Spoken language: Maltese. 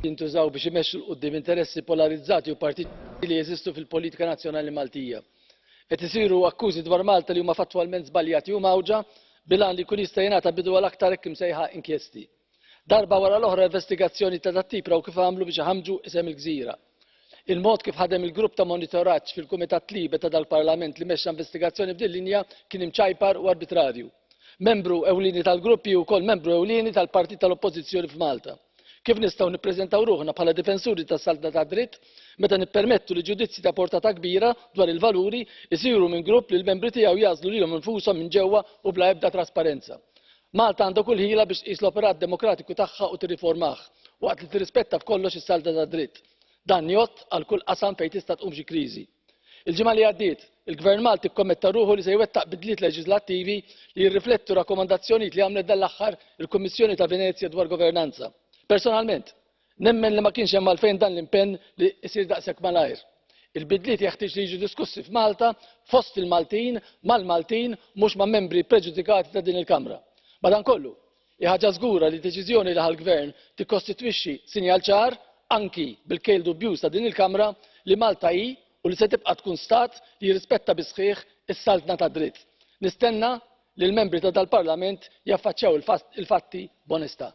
jintużaw biex imexxu l quddiem interessi polarizzati u partiti li jeżistu fil-politika nazzjonali maltija. qed isiru akkużi dwar malta li huma fattwalment żbaljati u mgħawġa bil-għan li jkun jista' jingħata bidu għal aktar hekk imsejħa inkjesti. Darba wara l-oħra investigazzjonijiet ta' dat-tip raw kif għamlu biex iħammġu isem il-gżira. Il-mod kif ħadem il-grupp ta' monitoraġġ fil-Kumitat Libe ta' dal-Parlament li mexxa investigazzjoni f'din linja kien imċajpar u arbitrarju. Membru ewlieni tal-grupp hi wkoll membru ewlieni tal-partit tal-Oppożizzjoni f'Malta. Kif nistgħu nippreżentaw ruħna bħala difensuri tas-saltna tad-dritt meta nippermettu li ġudizzji ta' portata kbira dwar il-valuri jsiru minn grupp li l-membri tiegħu jagħżlu lilhom infushom minn ġewwa u bla ebda trasparenza? Malta għandha kull ħila biex tqis l-operat demokratiku tagħha u tirriformah, waqt li tirrispetta b'kollox is-salda tad-dritt. Dan jgħodd għal kull qasam fejn tista' tqum xi kriżi. Il-ġimgħa li għaddiet, il-Gvern Malti kkommetta ruħu li se jwettaq bidliet leġiżlattivi li jirriflettu rakkomandazzjonijiet li għamlet dan l-aħħar il-Kummissjoni ta' Venezja dwar governanza. Personalment, Nemmen li ma kienx hemm għalfejn dan l-impenn li jsir daqshekk malajr. Il-bidliet jeħtieġ li jiġu diskussi f'Malta, fost il-Maltin, mal-Maltin, mhux ma' membri ppreġudikati ta' din il-Kamra. Madankollu, hi ħaġa żgura li d-deċiżjoni li ħa l-Gvern tikkostitwixxi sinjal ċar, anki bil-kejl dubjuż ta' din il-Kamra, li Malta hi u li se tibqa' tkun Stat li jirrispetta bis-sħiħ is-saltna tad-dritt. Nistenna li l-membri ta' dal-Parlament jaffaċċjaw il-fatti b'onestà.